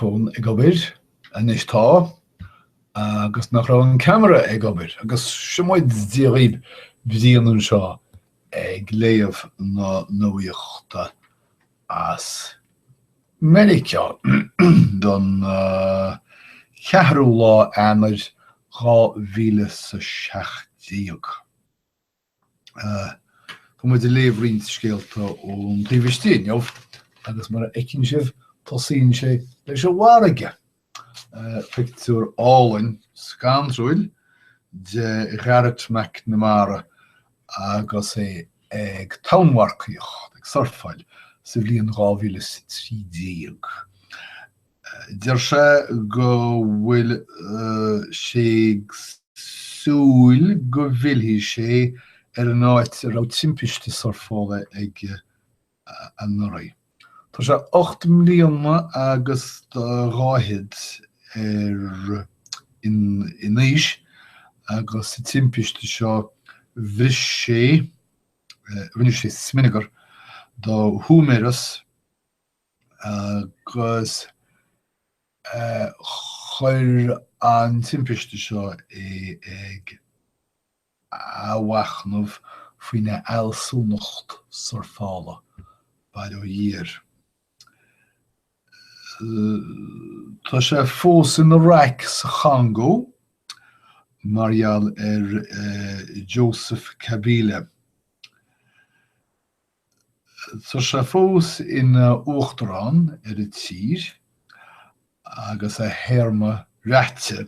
fón ag obair, anois tá, agus nach raibh an ceamara ag obair, agus seo muid Dia dhaoibh, Brian anseo ag léamh na nuachta as Meiriceá don cheathrú lá Eanáir, dhá mhíle 's a seacht déag. Tá muid ag léamh roinnt scéalta ón taobh istigh inniu agus mar a fheiceann sibh tosaíonn sé leis an bhfarraige. Pictiúr álainn scanrúil de Gharrett McNamara agus é ag tonnmharcaíocht, ag surfáil, sa bhliain 2013. Deir sé go bhfuil sé ag súil go bhfillfidh sé ar an áit a raibh timpiste surfála aige anuraidh. Tá sé ocht mbliana agus dhá fhichead in aois agus sa timpiste seo bhris sé, rinne sé smionagar, dá húiméaras. Agus chuir an timpiste seo é ag athmhachnamh faoina fhealsúnacht surfála, bail ó Dhia air. Tá sé fós ina raic sa Chongó mar gheall ar Joseph Kabila. Tá sé fós ina uachtarán ar an tír agus a théarma rite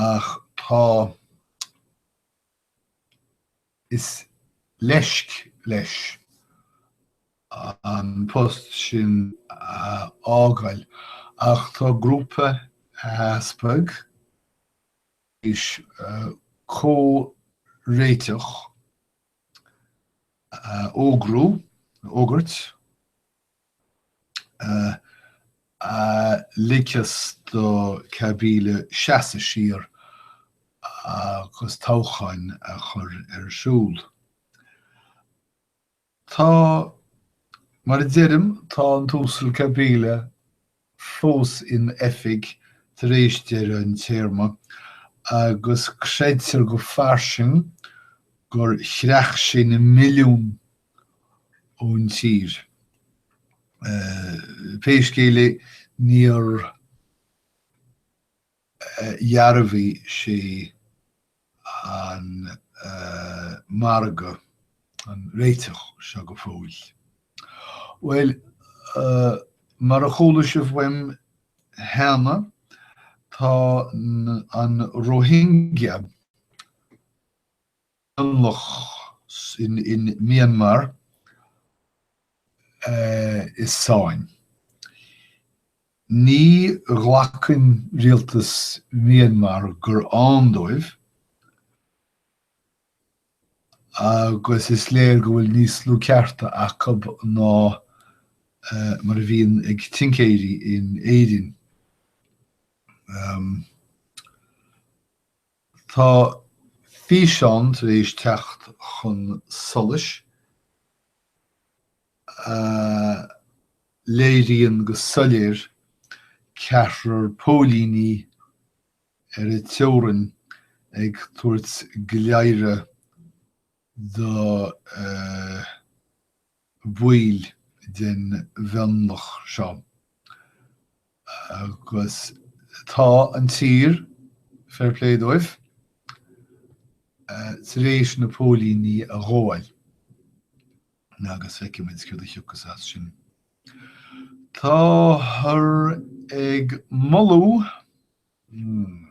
ach tá is leisc leis an post sin a fhágáil ach tá grúpa easpag, Is comhréiteach a fhógrú, a fhógairt, a ligfeas do Kabila seasamh siar agus toghcháin a chur ar siúl. Tá, mar a deirim, tá an tUasal Kabila fós in oifig tar éis deireadh an téarma agus creidtear go fairsing gur chreach sé na milliúin ón tír. Pé scéal é, níor. dhearbhaigh sé an margadh, an réiteach seo go fóill. Bhuel, mar a chuala sibh uaim cheana, tá an Rohingya mionlach in Myanmar i sáinn. Ní ghlacann rialtas Myanmar gur ann dóibh agus is léir go bhfuil níos lú cearta acub ná mar a bhíonn ag tincéirí in Éirinn. Tá físeán tar éis teacht chun solais a léiríonn go soiléir ceathrar póilíní ar an teorainn ag tabhairt léaradh do bhaill den mhionlach seo agus tá an tír, fair play dóibh, tar éis na póilíní a ghabháil agus feicfidh muid céard a thiocfas as sin. Táthar ag moladh Hmm.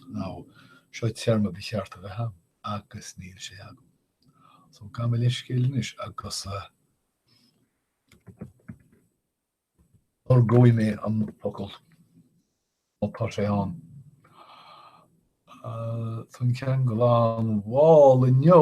Now, seo téarma ba cheart a bheith ann, agus níl sé agam. So, gabh mo leithscéal anois, agus uh, athróidh mé an focal má tá sé ann. Uh, Tá an ceann gan bhailiú inniu,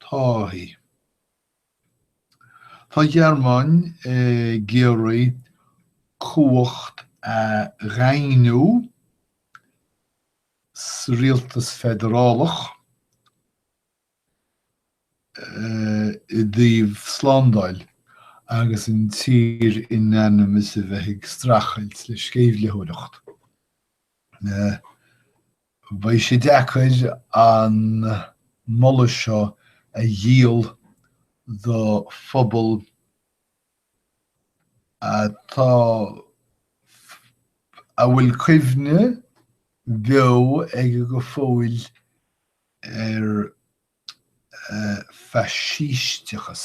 táithí. Tá an Ghearmáin ag iarraidh cumhacht a dhaingniú sa rialtas feidearálach i dtaobh slándáil agus an tír in ainm is a bheith ag streachailt le sceimhlitheoireacht. Beidh sé deacair an moladh seo a dhíol do phobal atá, a bhfuil cuimhne bheo acu go fóill ar faisísteachas.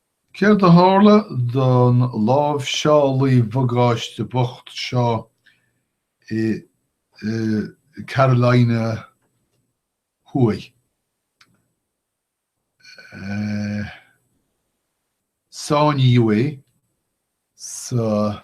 Céard a tharla don láimhseálaí bagáiste bocht seo i gCarolina Thuaidh? Sáinníodh é sa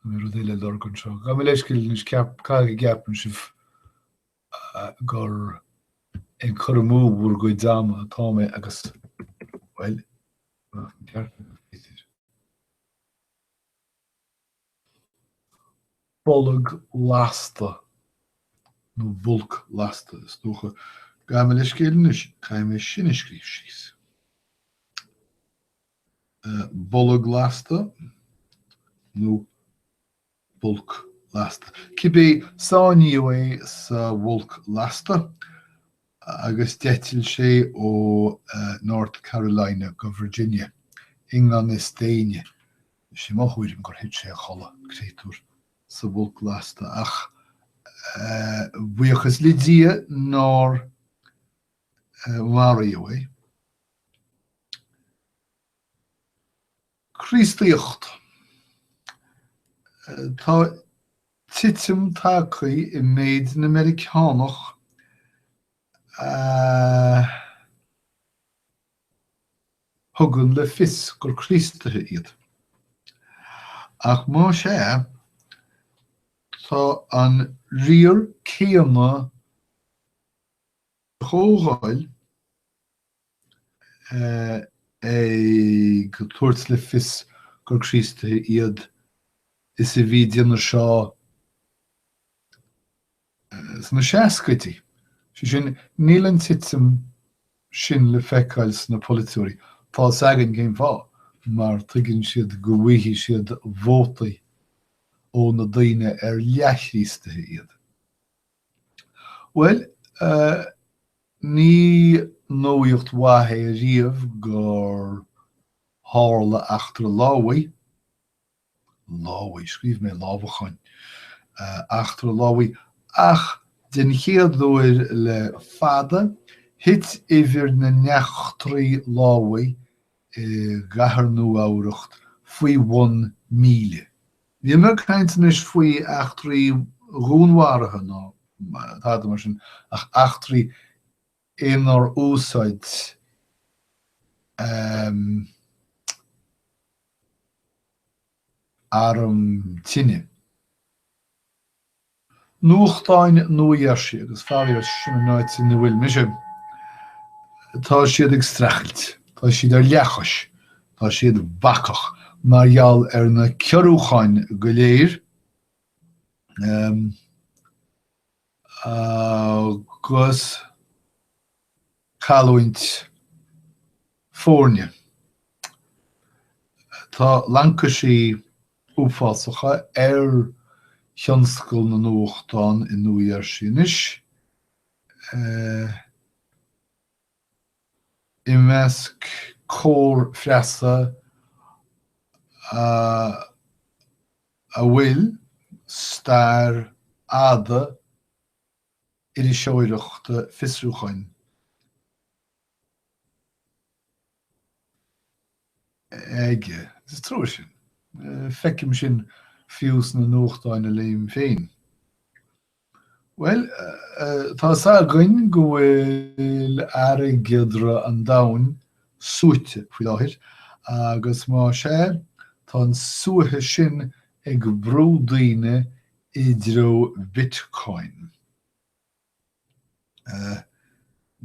An bhfuil rud eile lorg anseo? Gabh mo leithscéal anois, caithfidh go gceapann sibh gur ag cur amú bhur gcuid ama atá mé agus, bhuel, bolg lasta, nó bulk lasta, is dócha. Gabh mo leithscéal anois, caithfidh mé sin a scríobh síos. bolg lasta nó bulk lasta, cibé sáinníodh é sa bhulk lasta agus d'eitil sé ó North Carolina go Virginia i ngan fhios d'éinne. Is é mo thuairim gur thit sé a chodladh, créatúr, sa bhulk lasta ach buíochas le Dia nár maraíodh é. Críostaíocht Tá titim tagtha i méid na Meiriceánach a thugann le fios gur Críostaithe iad. Ach más é, tá an riar céanna de Chomhdháil. ag tabhairt le fios gur Críostaithe iad is a bhí den aois seo sna seascaidí. Sé sin, níl an titim sin le feiceáil sna polaiteoirí. Tá a fhios againn cén fáth, mar tuigeann siad go bhfaighidh siad vótaí ó na daoine ar leathchríostaithe iad. Bhuel, ní nuacht mhaith é riamh gur tharla eachtra lámhaigh, lámhaigh, scríobh mé lámhacháin, eachtra lámhaigh, ach den chéad uair le fada, thit uimhir na n-eachtraí lámhaigh i gCathair Nua-Eabhrac faoi bhun míle. Níl mé ag caint anois faoi eachtraí dhúnmharaithe ná tada mar sin, ach eachtraí inar úsáid arm tine. Nuachtáin Nua Gheirsí, agus faraor, sin an áit ina bhfuil mise, tá siad ag streachailt, tá siad ar leathchois, tá siad bacach mar gheall ar na ciorrúcháin go léir agus, cailliúint foirne. Tá laincisí uafásacha ar thionscal na nuachtán i Nua Gheirsí anois, i measc cór phreasa a bhfuil stair fhada iriseoireachta fiosrúcháin aige. Is trua sin. Feicim sin fiú sna nuachtáin a léim féin. Bhuel, tá 's againn go bhfuil airgeadra an domhain suaite faoi láthair agus más ea, tá an suaitheadh sin ag brú daoine i dtreo Bitcoin.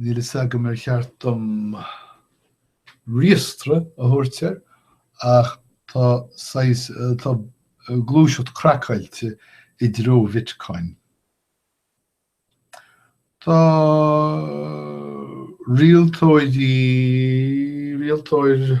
Níl a fhios agam ar cheart dom riastradh a thabhairt air ach tá saghas, tá gluaiseacht craiceáilte i dtreo Bitcoin. Tá rialtóir, rialtóir,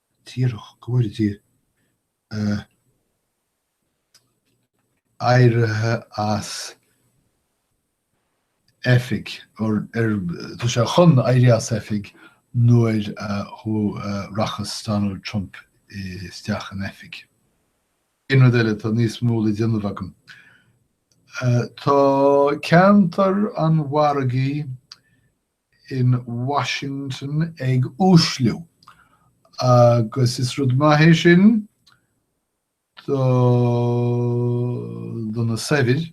díreach go bhfuil sé éirithe as oifig, tá sé chun éirí as oifig nuair a rachas Donald Trump isteach in oifig. Aon rud eile, tá níos mó le déanamh agam. Tá ceantar an mhargaidh in Washington ag uaisliú agus is rud maith é sin do do na saibhir,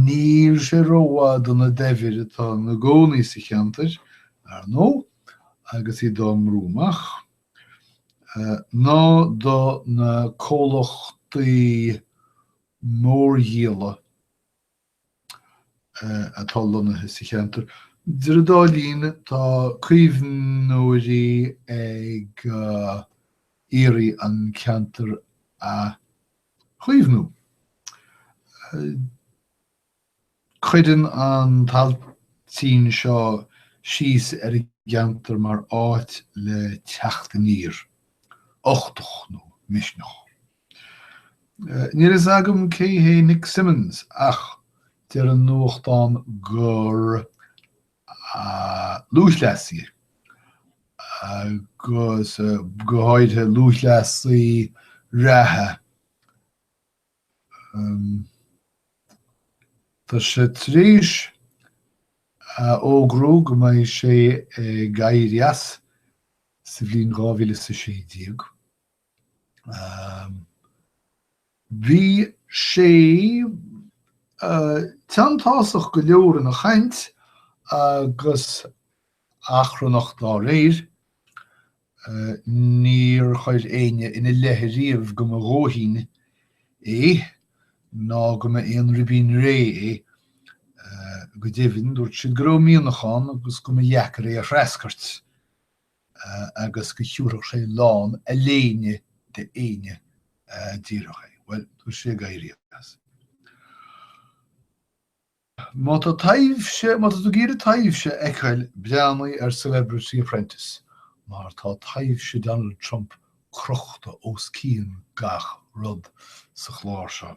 níl sé rómhaith do na daibhir atá ina gcónaí sa cheantar, ar ndóigh, agus iad á mbrú amach, ná do na comhlachtaí mórdhíola. atá lonnaithe sa cheantar. Idir an dá linn, tá caomhnóirí ag iarraidh an ceantar a chaomhnú. Cuireann an t-ailtín seo síos ar an gceantar mar áit le teacht aniar, uchtach nó misneach. Níl a fhios agam cé hé Nick Symmonds ach deir an nuachtán gur lúthchleasaí é, go háirithe lúthchleasaí reatha. Tá sé tar éis a fhógrú go mbeidh sé ag éirí as sa bhliain 2016. Bhí sé teanntásach go leor ina chaint agus achrannach dá réir. Níor chuir éinne ina leith ariamh go mba dhóithín é ná go mba aon ribín réidh é. Go deimhin, dúirt siad go raibh mianach ann agus go mba dheacair é a threascairt. agus go dtiúrfadh sé lán a léine de éinne a d'iarrfadh é. Bhuel, tá sé ag éirí as. Má tá taibhse, má tá tú ag iarraidh taibhse a fheiceáil, breathnaigh ar Celebrity Apprentice, mar tá taibhse Donald Trump crochta os cionn gach rud sa chlár seo.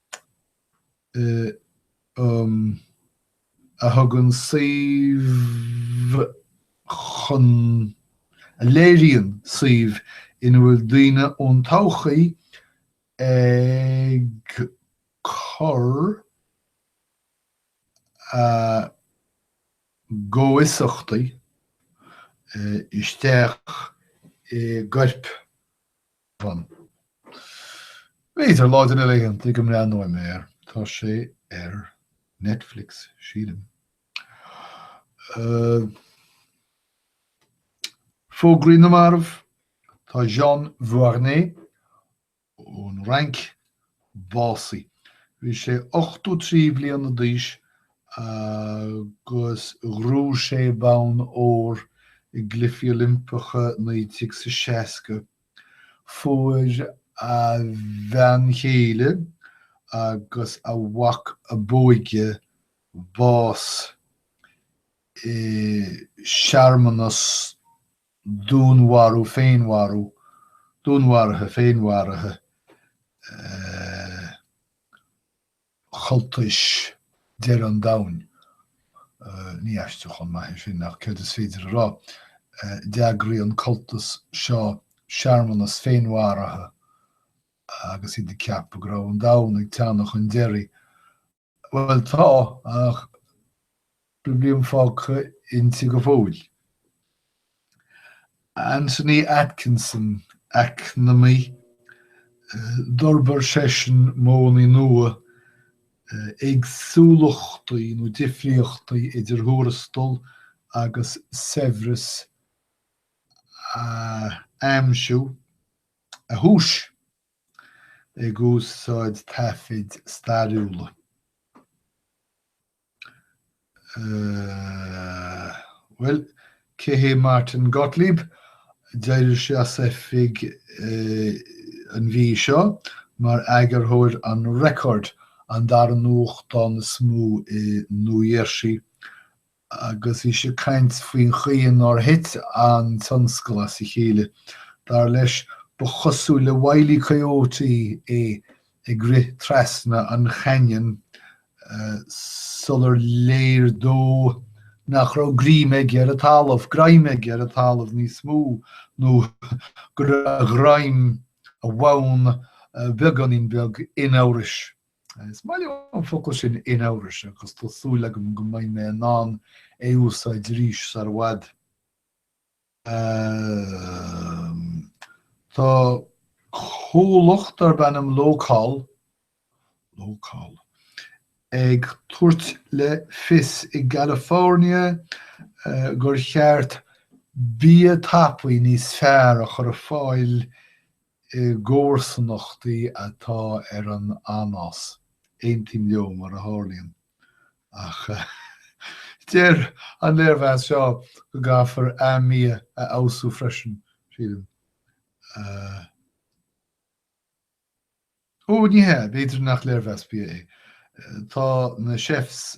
a thugann suíomh chun, a léiríonn suíomh ina bhfuil daoine ón todhchaí ag cur a gcomhfhiosachtaí isteach i gcorp. Fan. B'fhéidir lá de na laethanta seo go mbreathnóidh mé air, tá sé ar Netflix, sílim. Uh, Fógraí na marbh, tá Jean Vuarnet ón Fhrainc básaithe. Bhí sé 83 bliana d'aois agus ghnóthaigh sé bonn óir i gCluichí Oilimpeacha 1960. Fuair a bhean chéile agus a mhac a b'óige bás i searmanas dúnmharú féinmharú dúnmharaithe féinmharaithe cultais dheireadh an domhain Ní haistriúchán maith é sin, ach céard is féidir a rá? d'eagraigh an cultas seo searmanas féinmharaithe agus iad ag ceapadh go raibh an domhan ag teannadh chun deiridh. Bhuel, tá, ach bliain fágtha inti go fóill. Anthony Atkinson, eacnamaí, d'fhorbair seisean modhanna nua, éagsúlachtaí nó difríochtaí idir thuarastail agus saibhreas a aimsiú, a thomhais. ag úsáid taifid stairiúla Bhuel, cé hé Martin Gottlieb? D'éirigh sé as oifig an mhí seo mar eagarthóir an Record, an dara nuachtán is mó i Nua Gheirsí agus bhí sé ag caint faoin chaoi nár thit an tionscal as a chéile. Dar leis, ba chosúil le Wile E. Coyote é ag rith trasna an chainnion sular léir dó nach raibh greim aige ar an talamh, greim aige ar an talamh níos mó, nó go raibh a ghreim, a bhonn, beagáinín beag in amhras. Is maith liom an focal sin in amhras agus tá súil agam go mbeidh mé in ann é úsáid arís sar i bhfad. Um, tá comhlacht darb ainm Locol Locol ag tabhairt le fios i California uh, gur cheart bia tapaí níos fearr a chur ar fáil i gcomharsanachtaí atá ar an anás, aontaím leo, mar a tharlaíonn, ach deir an léirmheas seo go gcaithfear an bia a fheabhsú freisin, sílim. Ó, ní hea, b'fhéidir nach léirmheas bia é. Tá na chefs.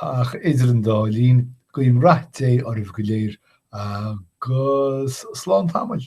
Ach idir an dá linn, guím rath Dé oraibh go léir agus slán tamaill!